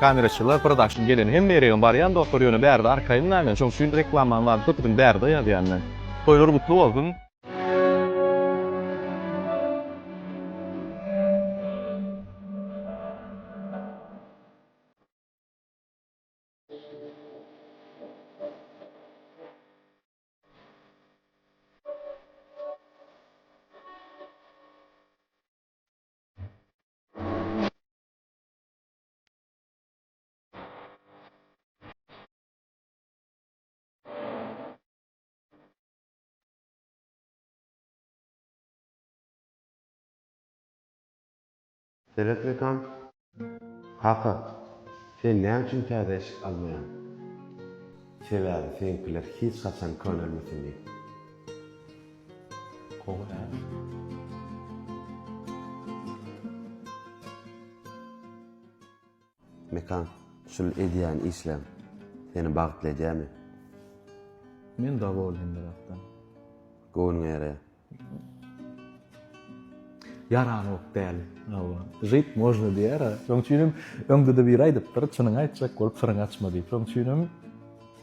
Kameraçylar production gelen hemme ýeregem barýan dostlar ýöne bärde arkaýyn näme şoň üçin reklamanyň zady köpüdin bärde ýazýan men. Toýlar gutly bolsun. Seret rekam. Kaka, sen näme üçin täze eşik almaýaň? Sebäbi seňkiler hiç haçan könelmesin diýip. Gowy Mekan, şul edýän işleň seni bagtly edýämi? Men dowolnym birakdan. Göwnüňe ýaraýar. Ýaranok däl. Hawa. Žit można diýýär-ä. Şoň üçin hem öňde-de biri aýdypdyr, çynyňy aýtjak bolup syryňy açma diýip. Şoň üçin hem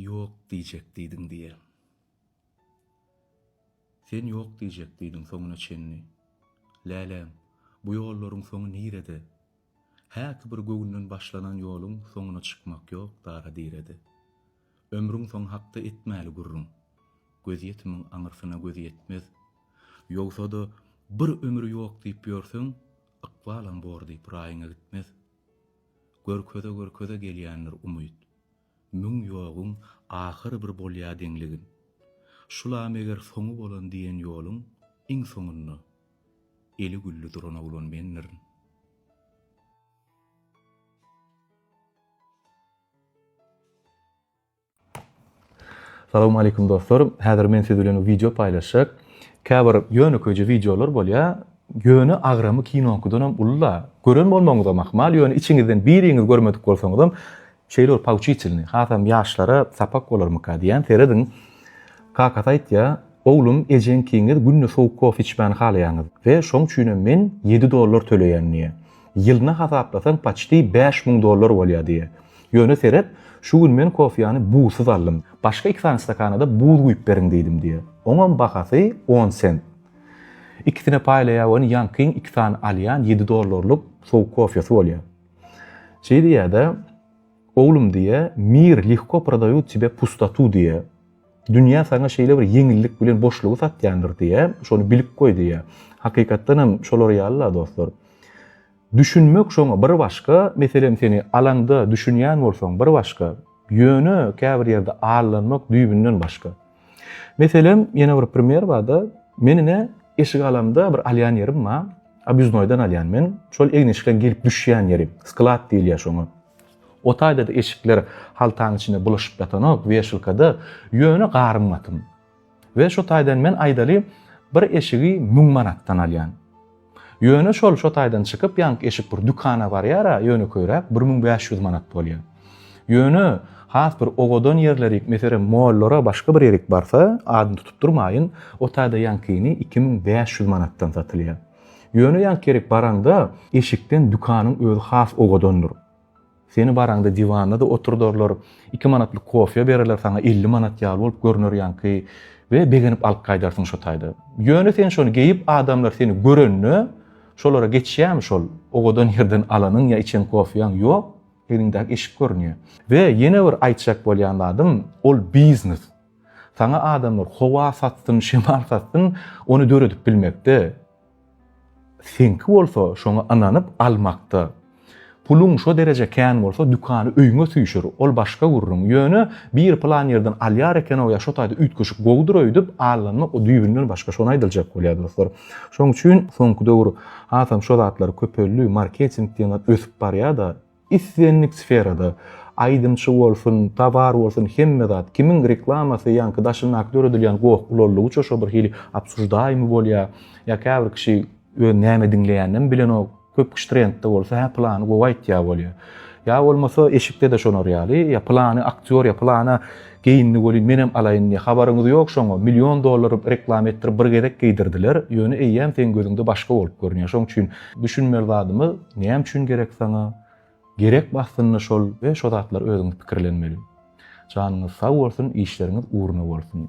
Ýok diýjek diýdiň diýe. Sen ýok diýjek diýdiň soňuna çenli. Läläm, bu ýollaryň soňy nirede? Häki bir göwünden başlanan ýoluň soňuna çykmak ýok dara-direde. Ömrüň soňy hakda etmäli gürrüň. Gözýetimiň aňyrsyna göz ýetmez. Ýogsa-da, bir ömür ýok diýip ýörseň, ykbalam bor diýip raýyňa gitmez. Görkeze-görkeze gelýändir umyt. Müň ýoguň ahyry bir bolýa deňligin. Şula meger soňy bolan diýen ýoluň iň soňunda eli gülli duran oglan mendirin. Salam aleýkum dostlar. Häzir men siz bilen wideo paýlaşjak. Käbir ýönekeýje wideolar bolýar. Ýöne agramy kinoňkydan hem uly-la. Gören bolmagyňyzam ahmal, ýöne içiňizden biriňiz görmedik bolsaňyzam, şeýle bir pouçitelnyý, hasam ýaşlara sapak bolarmyka diýýän. Serediň. Kakasy aýtýar, Oglum, ejeňkiňiz günde sowuk kofe içmäni halaýaňyz we şoň üçinem men ýedi dollar töleýän diýýär. Ýylyna hasaplasaň paçti bäş müň dollar bolýa diýýä. Ýöne seret, şu gün men kofýany buzsyz aldym. Başga iki sany stakana-da buz guýup beriň diýdim diýýä. Oňam bahasy on sent. Ikisine paýlaýa ony Ýankyň iki sany alýan ýedi dollarlyk sowuk kofýasy bolýa. Şeý diýýä-de, Oglum diýýä, Mir lehko prodают tebe pustotu diýýä. Dünýä saňa şeýle bir ýeňillik bilen boşlugy satýandyr diýä, şony bilip goý diýä. Hakykatdan hem şolar ýaly-la dostlar. Düşünmek şoňa bir başga, meselem seni alaňda düşünýän bolsaň bir başga, ýöne käbir ýerde aldanmak düýbünden başga. Meselem, ýene bir primer barda, men ine eşik alamda bir alýan ýerim bar, obýuznoýdan alýan men, şol egin-eşikleň gelip düşýän ýeri, sklad diýilýä şoňa. O taýda-da eşikler haltaň içinde bulaşyp ýatanok, weşilka-da, ýöne garym gatym. We şo taýdan men aýdaly bir eşigi müň manatdan alýan. Ýöne şol şo taýdan çykyp ýanky eşik bir dükana barýar-a, ýönekeýräk bir müň bäş ýüz manat bolýar. Ýöne has bir owadan ýerlerik, meselem, mollara başga bir ýerik barsa, adyny tutup durmaýyn, o taýda ýankyny iki müň bäş ýüz manatdan satylýar. Ýöne ýa kerek baraňda, eşikden dükanyň özi has owadandyr. Seni baraňda diwanda-da oturdarlar, iki manatlyk kofýa bererler saňa elli manat ýaly bolup görüner ýaňky we begenip alyp gaýdarsyň şo taýda. Ýöne sen şony geýip adamlar seni görende, şolara geçýärmi şol, owadan ýerden alanyň ýa içen kofýaň ýok, eliňdäki eşik görünýär. We ýene bir aýtjak bolýan zadym, ol biznes. Saňa adamlar howa satsyn, şemal satsyn, ony döredip bilmekde. Seňki bolsa şoňa ynanyp almakda. Puluň şo dereje kän bolsa dükany öýüňe süýşür, ol başga gürrüň. Ýöne biri pylan ýerden alýar eken-ow ýa şo taýda üýtgeşik gowudyr öýdüp, allanma o düýbünden başga. Şony aýdylacak bolýar dostlar. Şoň üçin soňky döwür hasam şo zatlar köpeldi, marketing diýen zat ösüp barýar-da. Islendik sferada, aýdymçy bolsun, towar bolsun hemme zat, kimiň reklamasy ýaňky daşyndaky döredilýän goh ulallygyça şo bir hili obsuždaýmy bolýa, ýa käbir kişi öz näme diňleýäninem bilenok, köp kişi trendde bolsa hä pylany gowy aýtýa bolýa. Ýa bolmasa eşikde-de şolar ýaly, ýa pylany aktýor ýa pylana Geýindi welin menem alaýyn diýýär. Habaryňyz ýok şoňa, million dollar reklama etdirip bir gezek geýdirdiler, ýöne eýýäm seň gözüňde başga bolup görünýär. Şoň üçin düşünmeli zadymyz näme üçin gerek saňa? Gerekmi aslynda şol we şo zatlar özüňiz pikirlenmeli. Janyňyz sag bolsun, işleriňiz ugruna bolsun.